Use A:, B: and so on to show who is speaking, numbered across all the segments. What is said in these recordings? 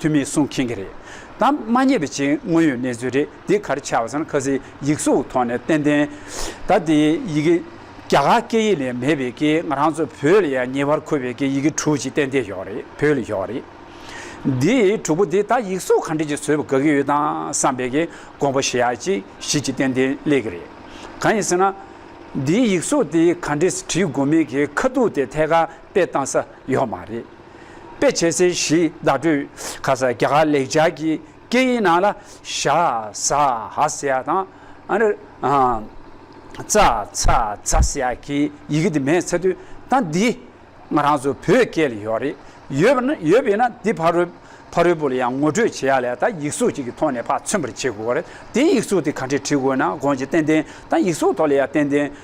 A: ཐུ་མེད་གསུང་མཁྱེན་གྱི་རེད་དམ་མ་རྙེད་པའི་ཆེས་དངོས་ཡོད་གནས་ཚུལ་རེད་འདི་ག་རེ་ཆ་བ་ཟེར་ན་ཁ་ཟས་ཡིག་གཟུགས་ཐོག་ནས་ཏན་ཏན་ད་ལྟའི་ཡི་གེ་རྒྱ་གར་སྐད་ཡིག་ལས་མེད་པའི་སྐད་ང་རང་ཚོ་བོད་ལ་ཡང་ཉེ་བར་མཁོ་བའི་སྐད་ཡི་གེ་དྲུག་ཅིག་ཏན་ཏན་ཞོག་རེད་བོད་ལ་ཞོག་རེད་འདི་དྲུག་པོ་འདི་ད་ཡིག་གཟུགས་ག་འདྲས་ཀྱིས་བཟོས་པ་དགའ་གི་ཡོད་དམ་བསམ་པའི་གི་དགོངས་པ་ཞེ་ཡག་ཅིག་ཞིག་ཅིག་ཏན་ཏན་སླེབས་གི་རེད་གང་ཡིན་ཟེར་ན། འདིའི་ཡིག་གཟུགས་དེ་ག་འདྲས་བྲིས་དགོས་མིན་གི་ཁ་ཐུག་དེ་ཐད་ཀར། དཔེ་བཏང་ས་ཡོད་མ་རེད། དཔེ་བྱེད་སའི་གཞི་བདག་སྤྲོད་ཁ་ས་རྒྱ་གར་ལེགས་སྦྱར་གྱི་སྐད་ཡིག་ནང་ལ་ཤ་ཟ་ཧ་ཟེ་ཡ་དང། ཙ་ཚ་ཚ་ཟེ་ཡ་གི་ཡི་གེ་དེ་མེད་ཚེ་དུས་ད་འདི་ང་རང་ཚོ་བོད་སྐད་ལ་ཡོད་རེད། ཡོད་པས་ན་འདི་ཕ་རོལ་ཕ་རོལ་པོ་ལ་ཡང་ངོ་སྤྲོད་བྱེད་ཡ་ལས་ད་ཡིག་གཟུགས་གཅིག་གི་ཐོག་ནས་ཕ་མཚོན་པར་བྱེད་དགོས་རེད་དེ་ཡིག་གཟུགས་དེ་ག་འདྲས་བྲིས་དགོས་ན་དགོངས་ཆེ་ཏན་ཏན་དང་ཡིག་གཟུགས་ཐོག་ལ་ཡ་ཏན་ཏན་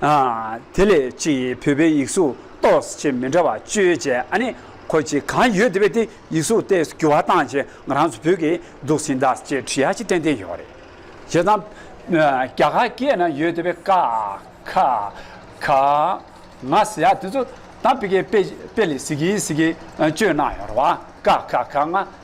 A: དེ་ལས་གཅིག་ཡིན་བོད་པའི་ཡིག་གཟུགས་གཏོགས་ཆེ་མི་འདྲ་བ་བཅོས་བྱས་ཨ་ནི་ཁོ་ཅི་གང་ཡོད་དེ་བས་དེ་ཡིག་གཟུགས་ལྟས་སུ་འགྱུར་བ་བཏང་བྱས་ང་རང་ཚོ་བོད་ཀྱི་སྡུག་སྲིན་དག་ཅེས་བྲིས་ཡ་ཅི་ཏན་ཏན་ཡོད་རེད་བྱས་ཙང། རྒྱ་གར་སྐད་ན་ཡོད་དེ་བས་ཀ་ཁ་ཁ་ང་ཟེར་ཡ་དེ་ཚོ་དང་པི་ཀའི་པེ་ལི་སི་ཀི་སི་ཀི་བཅོས་གནང་ཡོད་རེད་བ་ཀ་ཁ་ཁ་ང།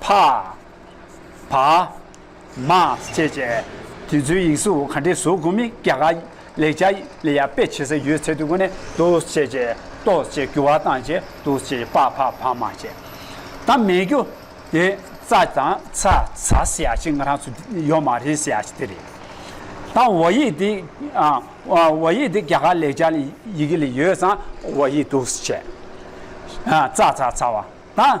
A: ཕ། བ། མ། བཅས་བཅས། དུས་ཚོད་ཡིག་གཟུགས་ག་འདྲའི་བཟོ་དགོས་མིན་རྒྱ་གར་ལེགས་ཆ་ལས་ཡར་སྤེལ་བྱེད་ས་ཡོད་ཚད་དུ་གོ་ནས་ཏོ་བཅས་བཅས་ཏོ་བཅས་རྒྱུ་བ་དང་བཅས་ཏོ་བཅས་བྱས་ཕ་ཕ་བ་མ་བཅས་དང་མེད་རྒྱུ་དེ་རྩ་དང་ཚ་ཚ་སེ་ཡ་ཅིག་ང་རང་ཚོ་ཡོད་མ་རེད་སེ་ཡ་ཅིག་དེ་རེད། དང་བ་ཡིག་དེ་བ་ཡིག་དེ་རྒྱ་གར་ལེགས་ཆ་ཡི་གེ་ལས་ཡོད་ཙང་བ་ཡིག་ཏོ་བཅས་རྩ་ཚ་ཚ་བ་དང་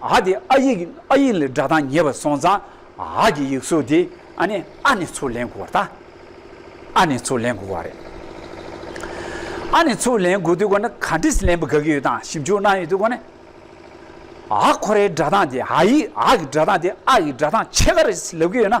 A: ཨ་དེ་ཨ་ཡིག་ཨ་ཡིག་ལས་སྒྲ་གདངས་ཉེ་བར་སོང་ཙང་ཨ་གྱི་ཡིག་གཟུགས་དེ་ཨ་ནི་ཨ་ནི་ཚུར་ལེན་དགོས་པ་རྟ་ཨ་ནི་ཚུར་ལེན་དགོས་པ་རེད། ཨ་ནི་ཚུར་ལེན་དགོས་དུས་སྐོར་ནི་ག་འདྲིས་ལེན་པ་དགའ་གི་ཡོད་དང་ཞིབ་འཇུག་གནང་ཡོད་དུས་སྐོར་ནི། ཨ་ཁོ་རའི་སྒྲ་གདངས་དེ་ཨ་ཡིག་ཨ་གི་སྒྲ་གདངས་དེ་ཨ་ཡི་སྒྲ་གདངས་ཕྱེད་ཀ་རེད་ལབ་ཀྱི་ཡོད་ན་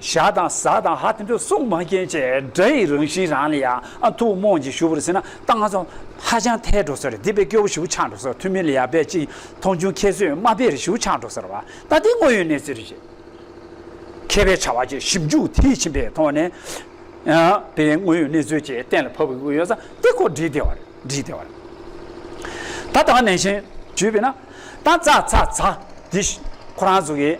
A: ཞག་དང་གཟའ་དང་ཧ་དེ་འདྲ་སྲུང་མ་མཁན་ཆེ་དགྲ་ཡི་རང་བཞིན་རང་ལ་ཡང་ཐུགས་རྨོངས་ཀྱིས་ཞུ་བར་ཟིན་ན་ད་ང་ཚོ་ཧ་ཅང་ཐལ་འགྲོ་ཟེར་འདི་པའི་སྐྱོ་བོ་ཞིའུ་ཆགས་འགྲོ་ཟེར་ཐུ་མི་ལ་ཡག་པས་ཅིག་མཐོང་ཆུང་ཁྱེད་ཚོས་དམའ་དཔེ་རེ་ཞིའུ་ཆགས་འགྲོ་ཟེར་བ་ད་འདི་དངོས་ཡོད་གནས་ཚུལ་རེད་ཅེས་མཁས་པའི་བྱ་བ་གྱི་ཞིབ་འཇུག་མཐིལ་ཕྱིན་པའི་ཐོག་ནས་པའི་དངོས་ཡོད་གནས་ཚུལ་བཅས་གཏན་ལ་ཕབ་དགོས་ཀྱི་ཡོད་ས་དེ་སྐོར་འདྲི་བདེ་བ་རེད་འདྲི་བདེ་བ་རེད། ད་ད་ནན་ཞིང་བརྗོད་པས་ན་ད་ཚ་ཚ་ཚ་འདི་ཁོ་རང་ཚོ་གི།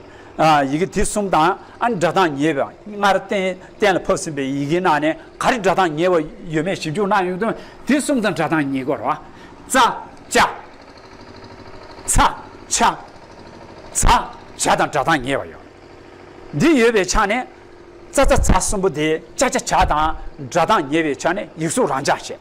A: ཡི་གེ་དེ་གསུམ་དང་ཨ་ནི་སྒྲ་གདངས་ཉེ་བའི་སྔར་གཏན་ལ་ཕབ་ཟིན་པའི་ཡི་གེའི་ནང་ནས་ག་རེ་སྒྲ་གདངས་ཉེ་བ་ཡོད་མེད་ཞིབ་འཇུག་གནང་ཡོང་དོན་དེ་གསུམ་དང་སྒྲ་གདངས་ཉེ་དགོས་རོ། ཙ། ཅ། ཚ། ཆ། ཚ། ཇ་དང་སྒྲ་གདངས་ཉེ་བ་ཡོད། འདི་ཡོད་པའི་ཆ་ནས་ཙ་ཙ་ཚ་གསུམ་པོ་དེ་ཅ་ཅ་ཇ་དང་སྒྲ་གདངས་ཉེ་བའི་ཆ་ནས་ཡིག་གཟུགས་རང་འཇགས་བྱེད།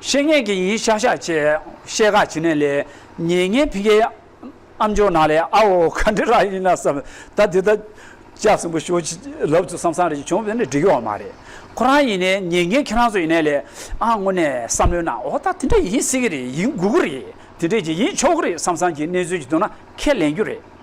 A: བཤེས་གཉེན་གྱི་ཡིན་ཤག་ཤག་ཅེས་བཤད་ག་བྱིན་ནས་ལས་ཉེས་ངན་ཕིན་གྱི་ཨ་མཆོག་ནང་ལས་ཨ་འོ་ག་འདི་རག་ཡིན་ན་བསམ་ད་འདི་ད་ཅག་སྲིན་པོ་ཤོ་ཅི་ལབ་ཚུལ་བསམ་བསམ་རེ་བྱུང་བས་ནི་འགྲིག་ཡོག་མ་རེད་ཁོ་རང་ཡིན་ནས་ཉེས་ངན་ཁྱེད་རང་ཚོ་ཡིན་ནས་ལས་ཨ་དངོས་ནས་བསམ་ལོས་ན་འོ་ད་དེ་འདྲ་ཡིན་སྲིད་གི་རེད་ཡིན་དགོས་ཀི་རེད་དེ་འདྲས་ཀྱི་ཡིན་ཆོག་གི་རེད་བསམ་བསམ་གྱི་གནས་ཚུལ་གྱི་དོན་ན་ཁས་ལེན་རྒྱུ་རེད།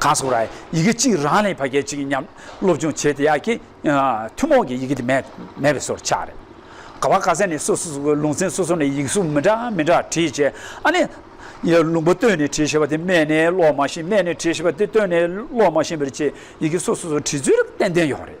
A: གང་སོང་ར་ཡི་གེ་གཅིག་རང་ལས་ཕ་སྐད་གཅིག་མཉམ་སློབ་སྦྱོང་བྱས་དེ་ཡག་གི་ཐུན་མོང་གི་ཡི་གེ་དེ་མེད་མེད་པའི་སོར་ཆགས་རེད། ག་བ་ག་ས་ནས་སོ་སོ་སོ་གི་ལུང་ཚན་སོ་སོ་ནས་ཡིག་གཟུགས་མི་འདྲ་མི་འདྲ་བྲིས་བྱས་ཨ་ནི། ལུང་པ་བཏོན་ནས་བྲིས་ཤེས་པ་དེ་སྨད་ནས་ཀློག་མ་ཤེས་སྨད་ནས་བྲིས་ཤེས་པ་དེ་བཏོན་ནས་ཀློག་མ་ཤེས་པར་བྱས་ཡི་གེ་སོ་སོ་སོ་བྲིས་ཚུལ་ཏན་ཏན་ཡོད་རེད།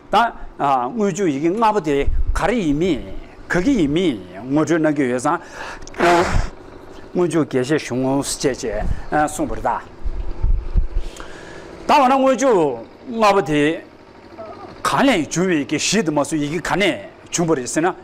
A: དང། དངུལ་ཆུ་ཡི་གེ་ལྔ་པོ་དེ་ག་རེ་ཡིན་མིན་ག་གི་ཡིན་མིན་ངོ་སྤྲོད་གནང་རྒྱུ་ཡོད་ཙང། དངུལ་ཆུ་དགེ་བཤེས་གཞུང་བཅས་ཅེས་གསུངས་པར་བལྟ། ད་འོ་ན་དངུལ་ཆུ་ལྔ་པོ་དེ་གང་ལས་བྱུང་བའི་ཡི་གེ་བཞི་དེ་མ་གསུངས་ཡི་གེ་ག་ནས་བྱུང་བ་རེད་ཟེར་ན།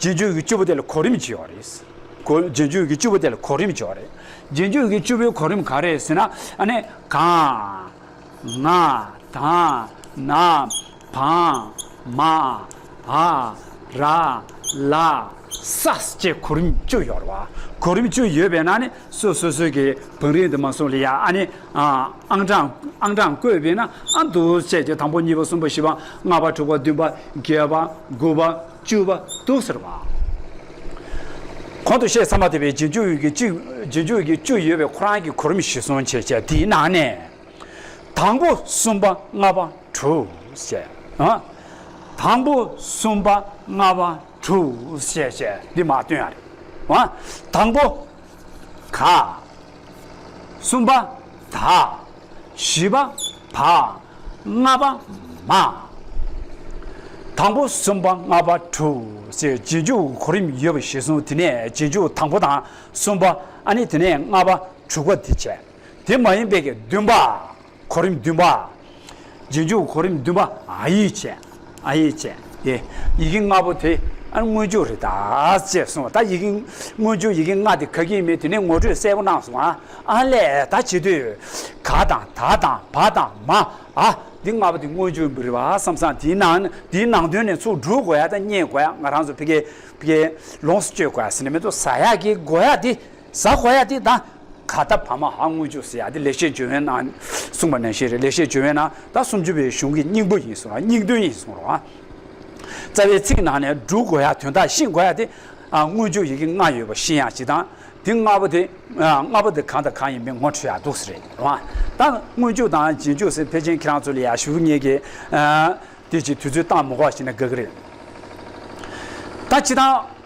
A: རྗེས་འཇུག་གི་བཅུ་པོ་དེ་ལ་གོ་རིམ་བྱས་བ་རེད། གོ། རྗེས་འཇུག་གི་བཅུ་པོ་དེ་ལ་གོ་རིམ་བྱས་བ་རེད། རྗེས་འཇུག་གི་བཅུ་པོའི་གོ་རིམ་གང་རེད་ཟེར་ན། ཨ་ནི། གང། ང། དང། ན། བང། མ། ཨ། ར། ལ། ས། ཅེས་གོ་རིམ་བཅུ་ཡོད་རེད་བ། གོ་རིམ་བཅུ་ཡོད་པས་ན་ནི་སོ་སོ་སོའི་གི་བང་རིམ་དུ་མ་སོང་ལ་ཡ་ཨ་ནི། ཨང་གྲངས། ཨང་གྲངས་བཀོད་པས་ན་ཨ་འདུག་བྱས་ཀྱི་དང་པོ་གཉིས་པ་གསུམ་པ་བཞི་པ་ལྔ་པ་དྲུག་པ་བདུན་པ་བརྒྱད་པ་དགུ་པ། བཅུ་བ་དུག་ཟེར་བ། གོང་དུ་བཤད་ཚར་མ་ཐུབ་པའི་རྗེས་འཇུག་འོད་ཀྱི་བཅུ། རྗེས་འཇུག་འོད་ཀྱི་བཅུ་ཡོད་པའི་ཁོ་རང་གི་གོ་རིམ་བཞི་གསུངས་ཆེ་ཆེ་དེའི་ནང་ནས། དང་པོ་གསུམ་པ་ལྔ་པ་དྲུག་བཤད། དང་པོ་གསུམ་པ་ལྔ་པ་དྲུག་བཤད་བཤད་འདི་མ་སྟོན་ཨ་རེད། དང་པོ་ག། གསུམ་པ། དག། བཞི་པ། བག། ལྔ་པ། མ། དང་པོ་གསུམ་པ་ལྔ་པ་དྲུག་ཅེས་རྗེས་འཇུག་གོ་རིམ་ཡོད་པ་ཞིག་གསུངས་དེ་ནས་རྗེས་འཇུག་དང་པོ་དང་གསུམ་པ་ཨ་ནི་དེ་ནས་ལྔ་པ་དྲུག་པ་དེ་བྱས་དེ་མ་ཡིན་པའི་བདུན་པ། གོ་རིམ་བདུན་པ། རྗེས་འཇུག་གོ་རིམ་བདུན་པ་ཨ་ཡིག་བཅས་ཨ་ཡིག་བཅས་ཏེ། ཡི་གེ་ལྔ་པོ་དེ་མངོན་བརྗོད་རེད་ད། ཅེས་གསུངས་པ་ལྟར་ཡི་གེ་མངོན་བརྗོད་ཡི་གེ་ལྔ་དེ་ག་གིས་མིན་དེ་ནས་ངོ་སྤྲོད་གསལ་པོ་གནང་སོང་ཨ་ལས་ད་བྱེད་དུས། ག་དང་ད་དང་བ་དང་མ་ཨ་འདི་ལྔ་པོ་དེ་མངོན་བརྗོད་འབུལ་རེད་བ་བསམ་སང་དེའི་ནང་དེའི་ནང་དོན་ནས་ཚུར་འགྲུལ་དགོས་ཡ་ད་རྙེད་དགོས་ཡ་ང་རང་ཚོ་ཕི་གེ་ལོངས་སུ་སྤྱོད་དགོས་ཡ་ཟེར་ནས་མེ་ཏོག་ཟ་ཡག་གི་དགོས་ཡ་དེ། ཟ་ཧོ་ཡ་དེ་ད་ག་ད་བར་མ་ཧ་དངུལ་ཅུག་སི་ཡ་དེ་ལེགས་བཤད་བརྗོད་བན་ནང་གསུངས་པ་ནན་ཤེས་རེད་ལེགས་བཤད་བརྗོད་བན་ནང་ད་སུམ་ཅུ་པའི་གཞུང་གི་སྙིང་པོ་ཡིན་གསུངས་ར་སྙིང་དོན་ཡིན་གསུངས་ར་རྩ་བའི་ཚིག་ནང་ནས་འབྲུ་གོ་ཡ་དོན་དག་ཤིང་གོ་ཡ་དེ་དངུལ་ཅུག་ཡི་གེ་ལྔ་ཡོད་པ་ཤིང་ཡ་སྤྱི་དང་དེ་ལྔ་པོ་དེ་ལྔ་པོ་དེ་གང་དང་གང་ཡིན་པའི་ངོ་འཕྲོད་ཡ་འདུག་སི་རེད་ར་ད་དངུལ་ཅུག་དང་རྗེས་འཇུག་སི་ཕེ་ཅན་ཁྱེད་རང་ཚོ་ལ་ཡ་ཞུ་ངེས་ཀྱི་དེ་ཅིག་དུས་ཚོད་སྟངས་མི་གོ་བ་ཤེས་ན་དགའ་གི་རེད་ད་སྤྱི་དང།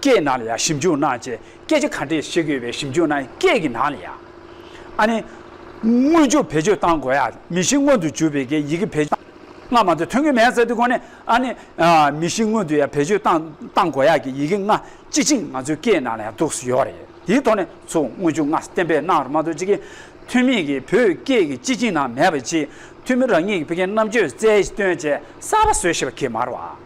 A: སྐད་ནང་ལ་ཡང་ཞིབ་འཇུག་གནང་བཅས་སྐད་ཆ་ག་འདྲས་བཤད་གི་ཡོད་པའི་ཞིབ་འཇུག་གནང་སྐད་ཀྱི་ནང་ལ་ཡང། ཨ་ནི། དངོས་བཅུད་བེད་སྤྱོད་བཏང་དགོས་ཡ་མི་ཤི་སྔོན་དུ་འཇུག་པའི་གི་ཡི་གི་བེད་སྤྱོད་ལྔ་མ་ཏོ་ཐོན་གི་མེད་ས་དེ་གོ་ནས་ཨ་ནི། མི་ཤི་སྔོན་དུ་ཡ་བེད་སྤྱོད་བཏང་བཏང་དགོས་ཡ་གི་ཡི་གི་ལྔ་སྤྱི་ཆིངས་ང་ཚོའི་སྐད་ནང་ལ་ཡང་འདུག་སུ་ཡོད་རེད་དེའི་ཐོག་ནས་ཚུ་དངོས་བཅུད་ལྔ་གཏན་འབེབས་གནང་ར་མ་ཏོ་གཅིག་གི་ཐུན་མིན་གི་བོད་སྐད་གི་སྤྱི་ཆིངས་ནང་མེད་པ་གཅིག་ཐུན་མིན་རང་ཉིད་ཀྱི་བོད་སྐད་རྣམ་དཔྱོད་རྩལ་བཏོན་བཅས་གསར་པ་བཟོས་ཤེས་པ་གི་མར་བ།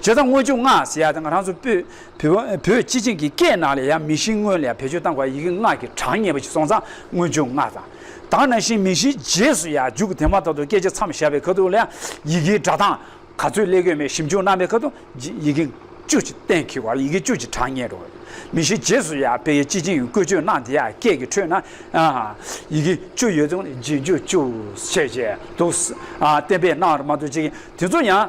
A: བྱས་ཙང་དངོས་བྱུང་སྔགས་ཟེར་ཡ་དང་རང་ཚོ་བོད་བོད་སྤྱི་བྱིངས་ཀྱི་སྐད་ནང་ལས་ཡང་མི་གཤིས་དངོས་ལས་བེད་སྤྱོད་བཏང་བར་ཡི་གེ་སྔགས་ཀྱི་གྲངས་ངེས་པ་ཞིག་སོང་ཙང་དངོས་བྱུང་སྔགས་དང། དང་ན་གཞན་མི་གཤིས་རྗེས་སུ་ཡང་འཇུག་དེ་མ་ཐག་ཏུ་སྐད་ཆ་མཚམས་བཞག་པའི་ཁ་ཐུག་ལ་ཡང་ཡི་གེའི་སྒྲ་གདངས་ག་ཚོད་ཀླད་གོས་མའི་ཞིབ་འཇུག་གནང་པའི་ཁ་ཐུག་ཡི་གེ་བཅུ་གཏན་འཁེལ་བར་ཡི་གེ་བཅུ་གྱི་གྲངས་ངེས་རོ། མི་གཤིས་རྗེས་སུ་ཡང་བོད་ཡིག་སྤྱི་བྱིངས་བཀོལ་སྤྱོད་གནང་དེ་ཡང་སྐད་ཀྱི་ཁྲོད་ན་ཡི་གེ་བཅུ་ཡོད་ཙང་རྗེས་འཇུག་བཅུ་བྱས་བྱས་འདུག་བསྟན་པས་གནང་བར་མ་ཐུག་ཅིག་དེ་ཚོ་ཡང།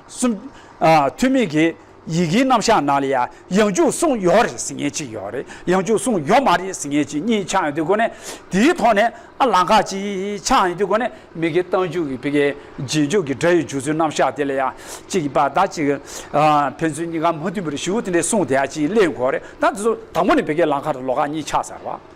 A: གསུམ། ཐོན་མིས་ཀྱི་ཡི་གེའི་རྣམ་གཞག་ནང་ལ་ཡང་ཡང་འཇུག་གསུངས་ཡོད་རེད་ཟེར་ངེས་ཅིག་ཡོད་རེད་ཡང་འཇུག་གསུངས་ཡོད་མ་རེད་ཟེར་ངེས་ཅིག་གཉིས་ཆགས་ཡོད་དུས་སྒོ་ནས་དེའི་ཐོག་ནས་ཨ་ལང་ཁ་ཅིག་ཆགས་ཡོད་དུས་སྒོ་ནས་མི་གི་རྟགས་འཇུག་གི་བི་གའི་རྗེས་འཇུག་གི་སྒྲ་ཡི་འཇུག་ཚུལ་རྣམ་གཞག་དེ་ལ་ཡང་ཅིག་གི་བར་ད་ཅིག་ཕན་ཚུན་གཉིས་ཀ་མ་མཐུན་པ་རེ་ཞུ་དེ་འདྲའི་གསུངས་དེ་ཡང་ཅིག་གླེང་དགོས་རེད་ད་དེ་ཚོ་དང་པོ་ནས་བི་གའི་ལང་ཁ་དང་ལོ་ཁ་གཉིས་ཆགས་ཚར་བ།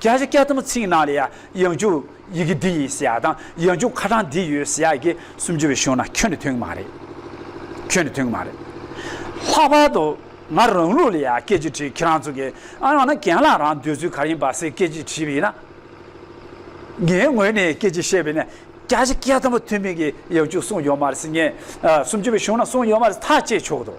A: རྒྱ་ཆེ་སྐད་དམ་ཚིག་ནང་ལ་ཡང་འཇུག་ཡི་གེ་འདི་ཡིན་ཟེར་ཡག་དང་ཡང་འཇུག་ཁ་གྲངས་འདི་ཡོད་ཟེར་ཡག་གི་སུམ་ཅུ་བའི་གཞུང་ན་ཁྱོད་ནི་མཐུན་གི་མ་རེད། ཁྱོད་ནི་མཐུན་གི་མ་རེད། ལྷག་པར་དུ་ང་རང་ལུགས་ལ་ཡང་སྐད་ཅིག་དྲིས་ཁྱེད་རང་ཚོ་གིས་ཨ་ཡང་ན་གན་ལགས་རང་འདོད་ཚུལ་ག་ཡིན་པ་སེ་སྐད་ཅིག་དྲིས་པས་ན། ངའི་ངོས་ནས་སྐད་ཅིག་བཤད་པས་ན་རྒྱ་ཆེ་སྐད་དམ་མཐུན་མིན་གྱི་ཡང་འཇུག་གསུངས་ཡོད་མ་རེད་སེ་ངས་སུམ་ཅུ་བའི་གཞུང་ན་གསུངས་ཡོད་མ་རེད་ཐག་བཅད་ཆོག་གི་འདུག།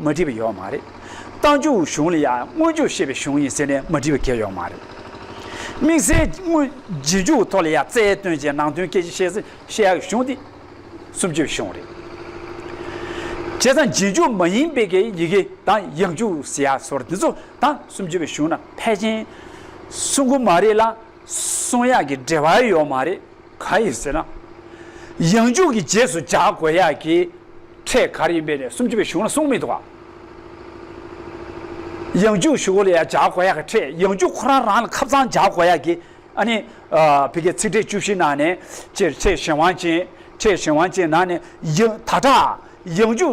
A: མ་བྲིས་པ་ཡོད་མ་རེད། རྟ་མཇུག་གཞུང་ལ་ཡང་དངོས་འཇུག་ཤེས་པའི་གཞུང་ཡིན་ཟེར་ནས་མ་བྲིས་པ་འགའ་ཡོད་མ་རེད། དམིགས་བསལ་དངོས་རྗེས་འཇུག་ཐོག་ལ་ཡང་རྩལ་བཏོན་ཅིང་ནང་དོན་སྐད་ཆ་བཤད་ཟིན་བཤད་ཡག་གི་གཞུང་དེ་སུམ་ཅུའི་གཞུང་རེད། བྱས་ཙང་རྗེས་འཇུག་མ་ཡིན་པའི་གི་ཡི་གེ་དང་ཡིག་འཇུག་ཟེར་ཡག་སོར་དེ་ཚོ་དང་སུམ་ཅུ་བའི་གཞུང་ན་ཕལ་ཆེན་གསུང་གི་མ་རེད་ལ། གསུང་ཡག་གི་འབྲེལ་བ་ཡོད་མ་རེད་ག་ཡིན་ཟེར་ན། ཡང་མཇུག་གི་རྗེས་སུ་འཇགས་དགོས་ཡག་གི་ཕྲད་གར་ཡིན་པའི་ནས་སུམ་ཅུ་པའི་གཞུང་ལ་གསུང་མི་འདུག་ག། ཡང་མཇུག་ཞུ་གོ་ལ་ཡག་འཇགས་དགོས་ཡག་གི་ཕྲད་ཡང་མཇུག་ཁོ་རང་རང་ལ་ཁབ་གཙང་འཇགས་དགོས་ཡག་གི་ཨ་ནི་བི་གའི་ཚིག་འགྲེལ་བཅུ་བཞི་ནང་ནས་ཕྲད་གཞན་དབང་ཅན་ཕྲད་གཞན་དབང་ཅན་ནང་ནས་ཡང་ད་དྲག་ཡང་མཇུག་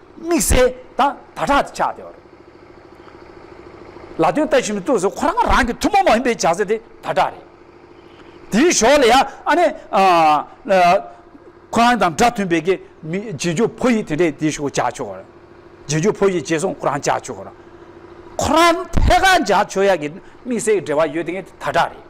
A: དམིགས་བསལ་དང་ད་དྲག་ཏུ་ཆགས་ཏེ། ལ་དོན་ལྟ་བཞིན་མི་ཐུབ་ཟེར་ཁོ་རང་རང་གི་ཐུན་མོང་མ་ཡིན་པའི་བྱ་ཚེགས་དེ་ད་དྲག་རེད། དེའི་ཞོར་ལ་ཡང་ཨ་ནེ། ཁོ་རང་དང་སྒྲ་མཐུན་པའི་གི་མི་རྗེས་འཇུག་ཕོ་ཡིག་དེ་འདྲས་དེ་ཞུགས་བྱ་ཆོག་གོ། རྗེས་འཇུག་ཕོ་ཡིག་བྱས་སོང་ཁོ་རང་བྱ་ཆོག་གོ། ཁོ་རང་ཐད་ཀར་བྱ་ཆོག་ཡ་གི་དམིགས་བསལ་གི་འབྲེལ་བ་ཡོད་དེ་ངས་ད་དྲག་རེད།